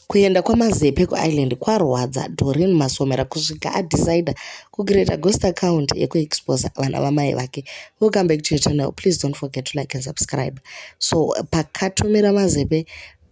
Kuenda kwaMazepe kuIreland kwarwadza Doreen Masomera kusvika adecider kucreata ghost account yekuexposa vana vamai vake. Welcome back to your channel. Please don't forget to like and subscribe. So pakatumira Mazepe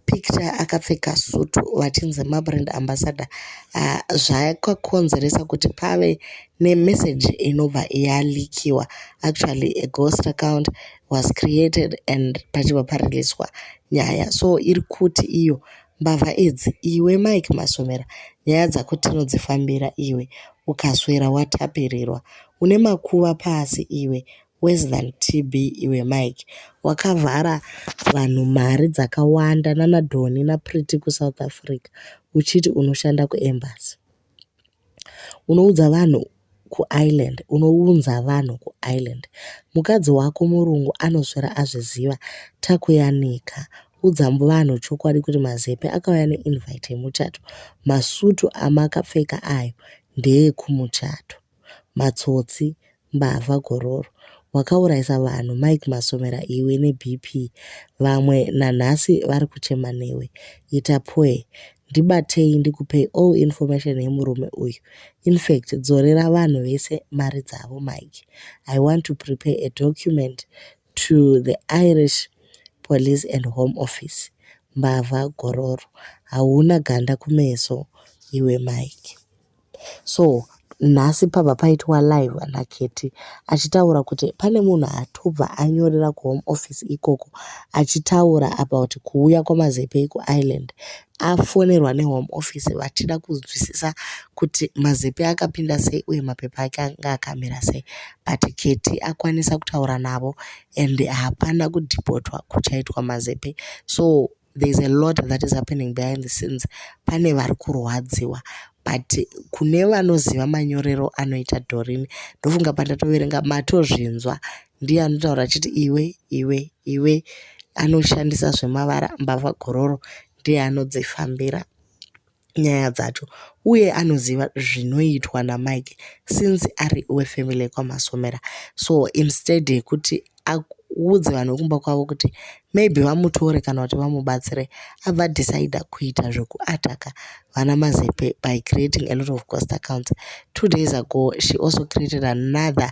picture akapfeka sutu vachinzi mabrand ambassador uh, zvakakonzeresa kuti pave nemessage inobva yalikiwa actually a ghost account was created and pachibva pareleaswa nyaya so iri kuti iyo mbavha idzi iwe mike masomera nyaya dzako tinodzifambira iwe ukaswera watapirirwa une makuva pasi iwe worse than tb iwe mike wakavhara vanhu mari dzakawanda nanadhoni naprity kusouth africa uchiti unoshanda kuembasy Unoudza vanhu kuIreland unounza vanhu kuIreland mukadzi wako murungu anoswera azviziva takuyanika udza vanhu chokwadi kuti mazepe akauya neinvite yemuchato masutu amakapfeka ayo ndeekumuchato matsotsi Mbavha gororo wakauraisa vanhu Mike Masomera iwe neBP vamwe nanhasi vari kuchema newe ita pwee ndibatei ndikupei all information yemurume uyu infact dzorera vanhu vese mari dzavo mike i want to prepare a document to the irish police and home office mbavha gororo hauna ganda kumeso iwe mike So nhasi pabva paitwa live naKetty achitaura kuti pane munhu atobva anyorera kuhome office ikoko achitaura about kuuya kwaMazepe kuIreland. Afonerwa nehome office vachida kunzwisisa kuti Mazepe akapinda sei uye mapepa ake anga akamira sei but Ketty akwanisa kutaura navo and hapana kudhipotwa kuchaitwa Mazepe so there is a lot that is happening behind the scenes pane vari kurwadziwa but kune vanoziva manyorero anoita dorini ndofunga pandatoverenga matozvinzwa ndiye anotaura achiti iwe iwe iwe anoshandisa zvemavara mbavha gororo ndiye anodzifambira nyaya dzacho uye anoziva zvinoitwa naMike since ari wefamily yekwaMasomera so instead yekuti audze vanhu vekumba kwavo kuti maybe vamutore kana kuti vamubatsire abva decide kuita zvekuataka vana Mazepe by creating a lot of cost accounts two days ago she also created another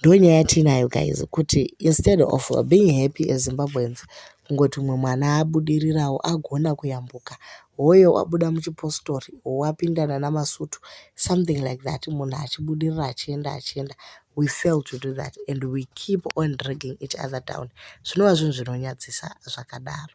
ndonyaya yatiinayo guys kuti instead of being happy as zimbabweans kungoti umwe mwana abudirirawo agona kuyambuka hoyo wabuda muchipostori wapindana namasutu something like that munhu achibudirira achienda achienda we fail to do that and we keep on dragging each other down zvinova zvinhu zvinonyadzisa zvakadaro